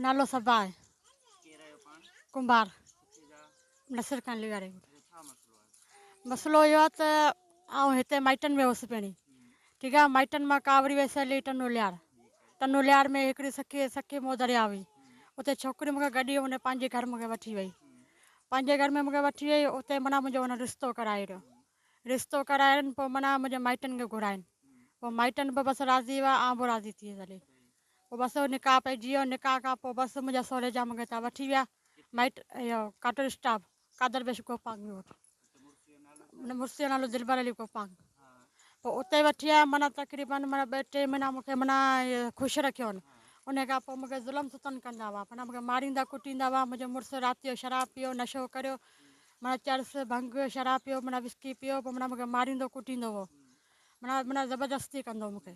نالو صبا آهي ڪي رهيو پاڻ ڪنڀار ڪٿي جا نصر خان لغاري ڇا مسئلو آهي مسئلو اهو آهي ته آئون هتي مائٽن ۾ هوس پهرين ٺيڪ آهي مائٽن مان ڪا وري ويسي هلي ٽنو ليار ٽنو ليار ۾ هڪڙي سکي سکي مو دريا هئي اتي ڇوڪري مونکي گڏي هن پنهنجي گھر مونکي وٺي وئي پنهنجي گھر ۾ مونکي وٺي وئي اتي منا منهنجو هن رشتو ڪرائي رهيو رشتو ڪرائين پوء منا منهنجي مائٽن کي گھراين پوء مائٽن به بس راضي هئا آئون به راضي ٿي هلي پوء بس او نڪاح پئي جيئو نڪاح کان پوء بس منهنجا سهري جا مونکي هتان وٺي ويا مائٽ اهو ڪاٽو اسٽاپ قادر بيش گوپانگ جو وٽ ان مرسي جو نالو دلبر علي گوپانگ پوء اتي وٺي آيا معنی تقريبن معنی ٻه ٽي مهينا مونکي معنی خوش رکيو ان ان کان پوء مونکي ظلم ستن ڪندا هئا معنی مونکي ماريندا ڪٽيندا هئا منهنجو مڙس رات جو شراب پيو نشو ڪريو معنی چرس ڀنگ شراب پيو معنی وسڪي پيو پوء معنی مونکي ماريندو ڪٽيندو هو معنی معنی زبردستي ڪندو مونکي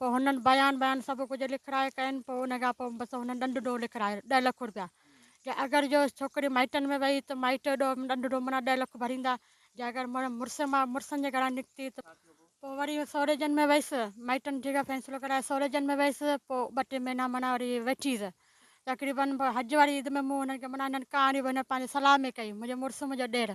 پوء هنن بيان بيان سڀ ڪجهه لکرائي ڪين پوء ان کان پوء بس هنن ڏنڊ ڏوهه لکرايو ڏهه لک روپيا جي اگر جو ڇوڪري مائٽن ۾ وئي ته مائٽ ڏوهه ڏنڊ ڏوهه معنيٰ ڏهه لک ڀريندا جي اگر مڙس مان مڙسن جي گهران نڪتي ته پوء وري سوريجن ۾ ويس مائٽن جيڪا فيصلو ڪرايو سوريجن ۾ ويس پوء ٻه ٽي مهينا معنيٰ وري ويٺيس تقريبن حج واري عيد ۾ مون هنن کي معنيٰ هنن ڪهاڻي به هنن پنهنجي صلاح ۾ ڪئي منهنجو مڙس منهنجو ڏير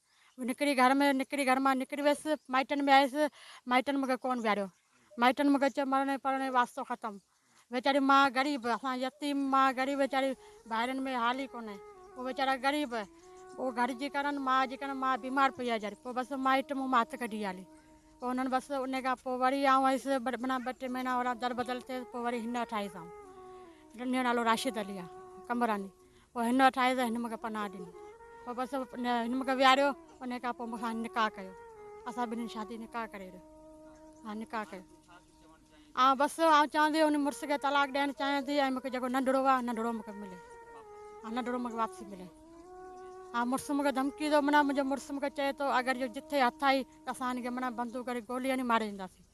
نڪري گهر ۾ نڪري گهر مان نڪري ويس مائٽن ۾ آيس مائٽن مون کي ڪون ويهاريو مائٽن مون کي چيو مرڻي پرڻي واسطو ختم ويچاري ماء غريب اسان يتيم ماء غريب ويچاري ڀائرن ۾ حال ئي ڪونهي پوء ويچارا غريب پوء گهر جي ڪرن ماء جي ڪرن ماء بيمار پئي آهي جاري پوء بس مائٽ مون مان هٿ ڪڍي هلي پوء انهن بس ان کان پوء وري آئون آيس منا ٻه ٽي مهينا ورا در بدل ٿيس پوء وري هن وٽ آيس آئون جنهن جو نالو راشد علي آهي قمبراني پوء هن وٽ آيس ۽ هن مونکي پناهه ڏني. پوء بس هن مونکي ويهاريو. انهيء کان پوء مون سان هن نڪاح ڪيو. اسان ٻنهين شادي نڪاح ڪري وريو. ها نڪاح ڪيو. آئون بس آئون چوان ٿي ان مڙس کي طلاق ڏيڻ چاهيان ٿي ۽ مونکي جيڪو ننڍڙو آهي ننڍڙو مونکي ملي. ها ننڍڙو مونکي واپسي ملي. ها مڙس مونکي ڌمڪي ٿو منا منهنجو مڙس مونکي چئي ٿو اگر اهو جتي هٿ آئي ته اسان هن کي منا بندوق ڪري گولي هڻي ماري ڏينداسين.